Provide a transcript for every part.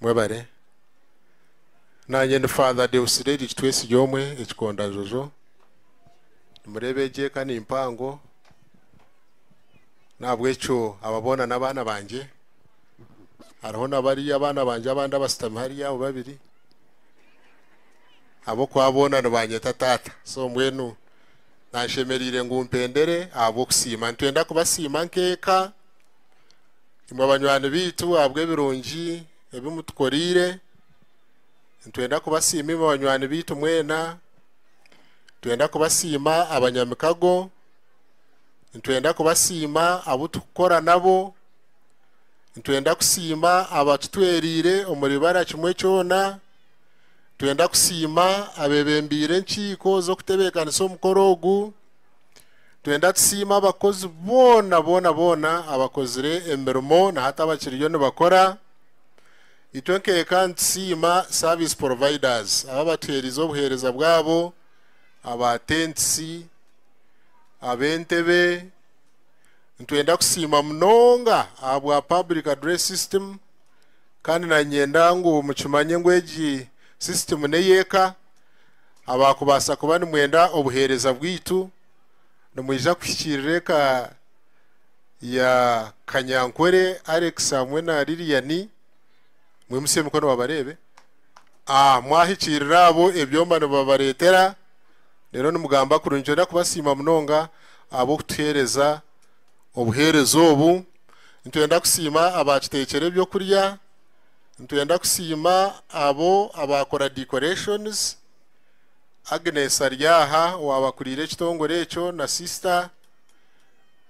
Mwebare. Naanye ndi Father Deus Derrick Twesigyomwe Ekikondajojo. Nimureeba egi eka ni mpango. N'ahabw'ekyo aba boona n'abaana bangye. Hariho na bariya abaana bangye abandi abashutami hariya abo babiri. Ahabw'okuba boona nibanyeta taata. So mbwenu nanshemereire ngu mpendere ahabw'okusiima. Nitwenda kubasiima nk'eka. imwe banywani baitu ahabw'ebirungi ebi mutukoreire. Nitwenda kubasiima imwe banywani baitu mwena. Nitwenda kubasiima abanyamikago. Nitwenda kubasiima abu turikukora nabo. Nitwenda kusiima abatutwereire omuri bara kimwe kyona. Nitwenda kusiima abeebembeire enkiiko z'okutebeekanisa omukoro ogu. Twenda tusiime abakozi boona boona boona abakozire emirimo na hati abakiriyo nibakora. Itwe nk'eka nitusiima service providers aba batuheerize obuheereza bwabo, aba tentisi, ab'entebe. Nitwenda kusiima munonga ahabwa public address system kandi nanyenda ngu mukimanye ngu egi system n'ey'eka. abaakubaasa kuba nimwenda obuheereza bwaitu, nimwija kuhikiirira eka ya Kanyankore Alex hamwe na Lilian. Mwimutsye emikono babareebe. Mwahikiirira abo ebyoma nibabareetera, reero nimugamba kurungi. Nitwenda kubasiima munonga ahabw'okutuheereza obuheereza obu. Nitwenda kusiima abaakiteekyera eby'okurya. Nitwenda kusiima abo abaakora decorations, Agnes ari aha owaabakuriire ekitongore ekyo na sisita.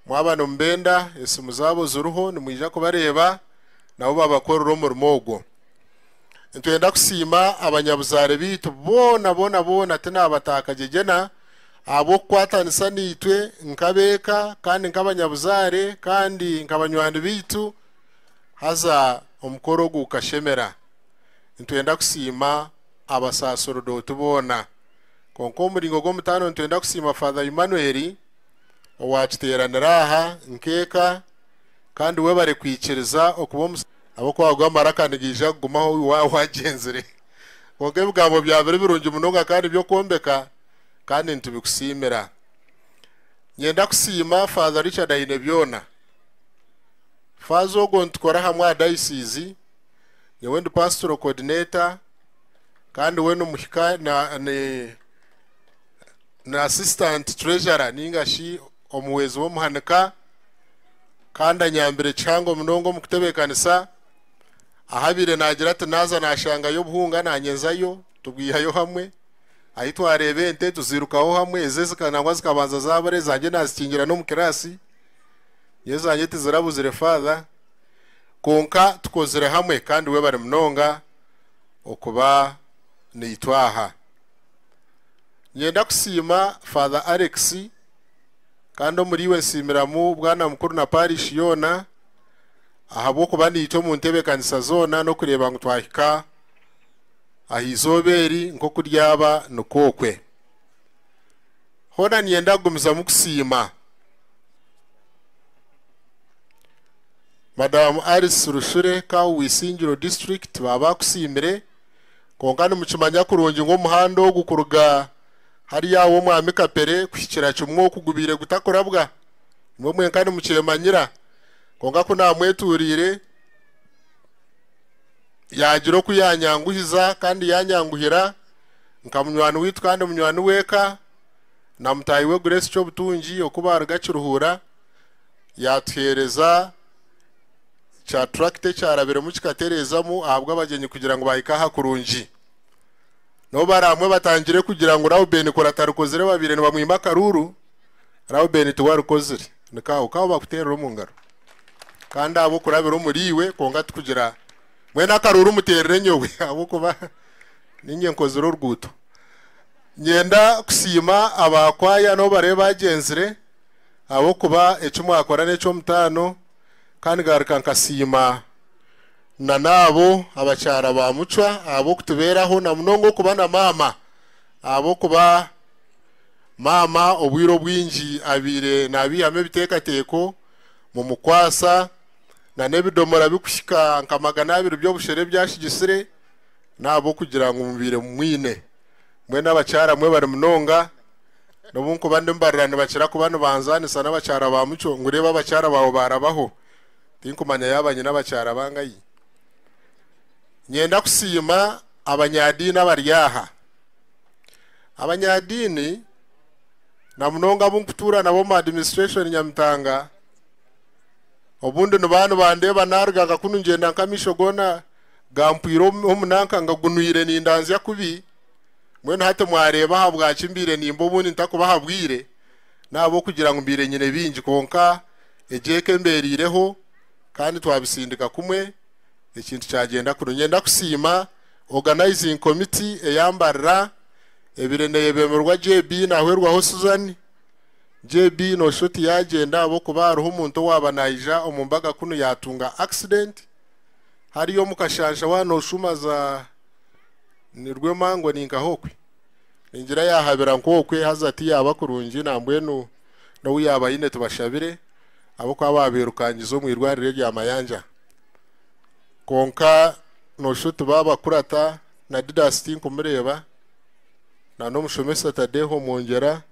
Mwaba nimubenda, esimu zaabo ziriho nimwija kubareeba nabo babakorere omurimo ogwo. Nitwenda kusiima abanyabuzaare baitu boona boona boona tinaabataa kagegyena ahabw'okukwatanisa naitwe nk'ab'eka kandi nk'abanyabuzaare kandi nka banywani baitu. Haza omukoro ogu gukashemera. Nitwenda kusiima abasaserdoti boona. Kwonka omu muringo gw'omutaano nitwenda kusiima Father Emmanuel owakiteeranira aha nk'eka kandi webare kwikiriza okuba omu. Ahabw'okuba ago amaraka nigaija kugumaho waaba wagyenzire. Kwonka ebigambo byawe biri birungi munonga kandi by'okwombeka kandi nitubikusiimira. Nyenda kusiima Father Richard Ainebyona. Faaza ogwo nitukora ahamwe aha dayisiizi. Nyowe ndi Pastoral Coordinator kandi we n'omuhika na ni ni Assistant Treasurer ninga shi omuhwezi w'omuhanika kandi anyambire kihango munonga omu kutebeekanisa. Ahabaire naagira ati naaza naashangayo obuhunga naanyenzayo tubwihayo hamwe. Ahi twareeba ente tuziirukaho hamwe, eze zika nangwa zikabanza zaabura ezangye naazikingira n'omu kiraasi. Nyowe zangye tizirabuzire Father kwonka tukozire hamwe kandi webare munonga okuba naitwe aha. Ninyenda kusiima Father Alex kandi omuriiwe nsiimiramu bwana mukuru na Parish yoona ahabw'okuba naitwe omu ntebekanisa zoona n'okureeba ngu twahika aha eizooba eri nk'oku ryaba nikwo okwe. hoona niinyenda kugumizamu kusiima. Madamu Alice Rushure Kawu wa Isingiro District baaba bakusiimire, kwonka nimukimanya kurungi ngu omuhanda ogu kuruga hariya aha w'Omwami Kapere kuhikira Kimwoku gubaire gutakurabwa, nimwo mwenka nimukyemanyira, kwonka ku naamwetuuriire yaagira oku yaanyanguhiza kandi yaanyanguhira. nka munywani waitu kandi munywani w'eka na mutaahi we Grace Kyobutungi oku baaruga Kiruhura, yaatuheereza kya turakita ekyarabiremu kikatereezamu ahabw'abagyenyi kugira ngu bahike aha kurungi. N'obu bari hamwe batangire kugira ngu Rauben kuri atarikozire babaire nibamwima akaruuru, Rauben tiwe arikozire. Ni kaahu kaahu bakuteerera omu ngaro. Kandi ahabw'okurabira omuriiwe kwonka tikugira, mbwenu akaruuru muteerere nyowe ahabw'okuba. Niinye nkozire oruguuto. Niinyenda kusiima abaakwaya nabo barebe baagyenzire ahabw'okuba eki mwakora n'eky'omutaano kandi ngaruka nkasiima n'abo abakyara ba Mucwa ahabw'okutubeeraho na munonga okuba na maama ahabw'okuba maama obwire obwingi abaire naabaihamu ebiteekateeko mumukwasa n'ebidoomora birikuhika nka magana abiri by'obushera ebi yaasigitsire. N'ahabw'okugira ngu mubaire mumwine. Mbwenu abakyara mwe bari munonga, n'obu nkuba ndimbarira nibakira kuba nibanzaanisa n'abakyara ba Mucyo ngu reeba abakyara baawe baarabaho. Tinkumanya yaaba nyine abakyara bangahi. Nyenda kusiima abanyaadiini abari aha. Abanyaadiini na munonga abu nkutuura nabo omu Administration Nyamitanga, obundi nibaba nibandeeba naaruga nka kunu ngyenda nk'amaisho goona, gampwire omu nanka ngagunwire nindanzya kubi, mbwenu hati mwareeba ahabwaki mbaire nimba obundi ntakubaha bwire, n'ahabw'okugira ngu mbaire nyine bingi kwonka egyo eka embeereireho kandi twabisindika kumwe ekintu kyagyenda kurungi. Niinyenda kusiima Organizing Committee eya Mbarira, ebaire neebemererwa JB Nahwerwaho Susan. JB nooshusha oti yaagyenda ahabw'okuba hariho omuntu owaaba naija omu mbaga kunu yaatunga accident, hariya omu kashansha waaba nooshuma za nirwo emangwe ni nkaha okwe. Ningira yaahabira nk'okwe haza tiyaaba kurungi nambwenu n'ou yaaba aine tubashabire ahabw'okuba baabairukangize omu irwariro erya Mayanja. Kwonka noshusha oti baabakurata na Didas tinkumureeba na n'omushomesa Tadeo Mwongyera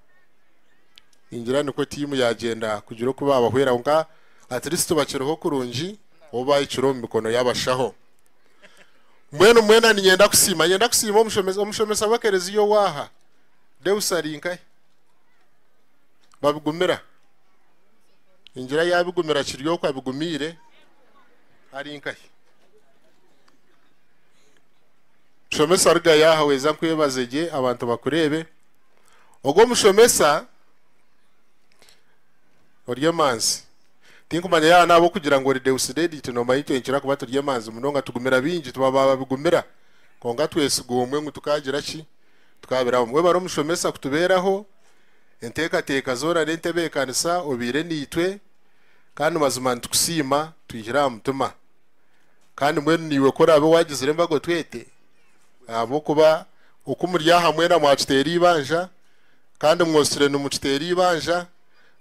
ningira nikwo tiimu yaagyenda kugira oku baabahwera kwonka at least bakiriho kurungi. obu baahikire omu mikono y'abashaho. Mbwenu mwena ninyenda kusiima. Nyenda kusiima omushomesa omushomesa w'ekereziya owaaha. Deus ari nkahi? Babigumira. Ningira yaabigumira kiri oku abigumiire. Ari nkahi? Mushomesa ruga yaaha weza nkwebaze gye abantu bakureebe. Ogwo omushomesa ori emanzi. Tinkumanya yaaba n'ahabw'okugira ngu ori Deusidedite noomanya itwe nitukira kuba turi emanzi munonga, tugumira baingi, tuba ba babigumira. Kwonka twesiga omwe ngu tukaagira ki? Tukaabiraho. Mwebare omushomesa kutubeeraho enteekateeka zoona n'entebeekanisa obaire naitwe kandi mazima nitukusiima twihire aha mutima. Kandi mbwenu naiwe ku oraabe waagizire embaga otwete ahabw'okuba oku muri aha mwena mwakiteera eibanja kandi mwotsire nimukiteera eibanja.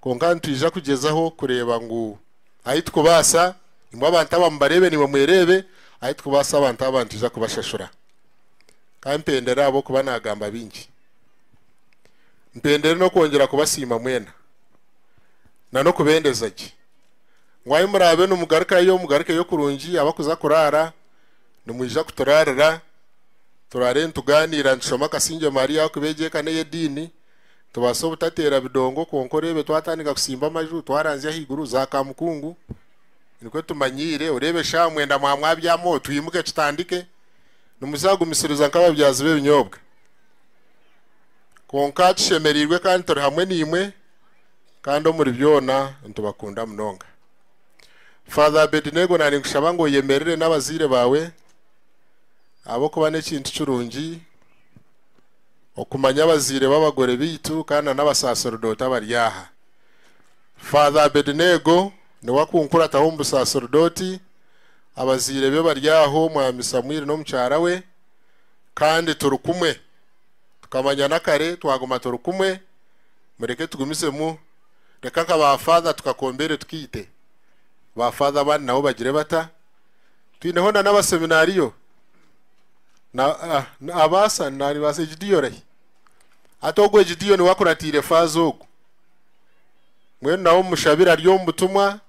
Kwonka nitwija kugyezaho kureeba ngu ahi tukubaasa, imwe abantu aba mubareebe naimwe mwereebe, ahi tukubaasa abantu aba nitwija kubashashura. Ka mpendere ahabw'okuba naagamba bingi. Mpendere n'okwongyera kubasiima mwena na n'okubendeza gye ngu ahi muraabe nimugarukayo, mugarukeyo kurungi abakuza kuraara nimwija kuturaarira, turaare nitugaaniira nitushoma Akasingye Maria ahabw'okuba egi eka n'ey'ediini. Tubaasa obutateera bidongo kwonka oreebe twatandika kusimba amaju twaranzya ahaiguru za Kamukungu nikwo tumanyiire oreebe eshaaha mwenda mwaba mwabyamaho twimuke tutandike nimuzaagumisiriza nk'ababyazi b'ebinyoobwa kwonka tushemereirwe kandi turi hamwe naimwe kandi omuri byona nitubakunda munonga. Father Abednego naninkushaba ngu oyemerere n'abazaire baawe ahabw'okuba n'ekintu kirungi. okumanya abazaire b'abagore baitu kandi na n'abasaaserdooti abari aha. Father Abednego niwe akunkurataho omu busaaserdooti, abazaire be bari aho, Mwami Samwiri n'omukyara we, kandi turi kumwe. Tukamanyana kare, twaguma turi kumwe. Mureke tugumizemu. Reka nka ba Father tukakombeere tukaite. Ba Father abandi nabo bagire bata? Twineho na n'abaseminario. Na ah, na- abaasa naribaasa egidiyo rahi. Hati ogu egidiyo niwe akuratiire faaza ogu. Mbwenu nawe omushabire ari omu butumwa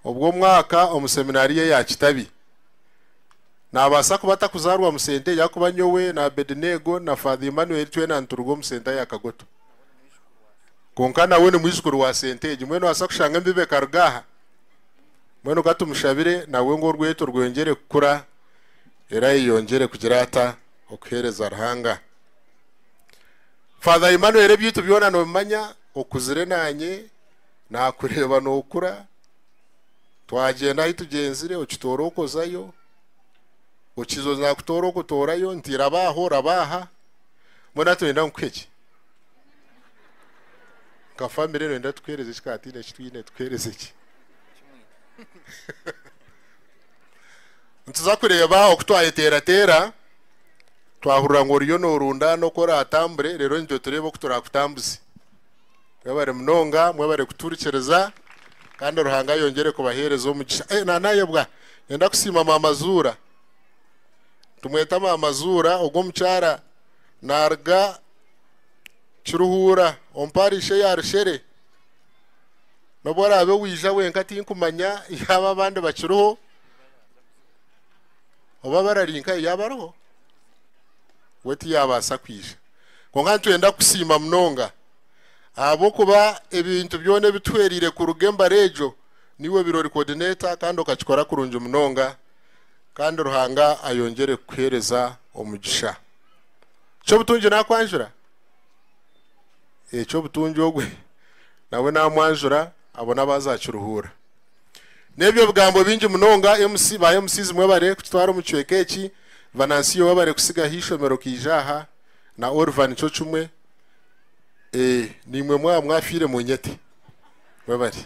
obw'omwaka omu seminario eya Kitabi. Nabaasa kuba atakuzaarwa mu senta eyi ahakuba nyowe na Abedinego na Father Emmanuel twena nituruga omu senta ya Kagoto. Kwonka nawe ni mwijukuru wa senta egi. Mbwenu nobaasa kushanga embebe ekaruga aha. Mbwenu ka tumushabire nawe ngu orweto rwongyere kukura era ayeyongyere kugira ata? Okuheereza Ruhanga. Father Emmanuel ebyaitu byona nobimanya, okuzire naanye nakureeba nokura, twagyenda ahu tugyenzire okitoora okozayo, okiza oza nakutoora okotoorayo nti raba aha oraba aha, mbwenu hati noyenda nkuhe ki? Nka family noyenda tukuheereze ki ka tihaine eki twine tukuheereze ki? nituza kureeba oku twayeteerateera twahurira ngu oriyo noorunda n'oku oraatambure reero nitwe tureeba oku turaakutambuze. Mwebare munonga, mwebare kutuhurikiriza kandi Ruhanga ayongyere kubaheereza omugisha. Eh, naanayebwa nenda kusiima maama Zuura. Tumweta maama Zuura, ogwo omukyara naaruga Kiruhuura omu paarishi eya Rushere. N'obu oraabe waija wenka tinkumanya yaaba abandi bakiriho oba barari nkayo yaaba ariho we tiyaabaasa kwija. Kwonka nitwenda kusiima munonga ahabw'okuba ebintu byona ebi tuhwereire kuruga embara egyo niiwe obaire ori coordinator kandi okakikora kurungi munonga kandi Ruhanga ayongyere kukuheereza omugisha. Ky'obutungi naakwanjura. ekyo obutungi ogwe nawe namwanjura abo nabo azakiruhuura. Nebyo bigambo bingi munonga MC ba MCs mwebare kututwara omu kicweka eki, Vanancio webare kusiga ha ishomero okaija aha na Oliver nikyo kimwe eeh nimwe mwaba mwafiire munyete. Mwebare.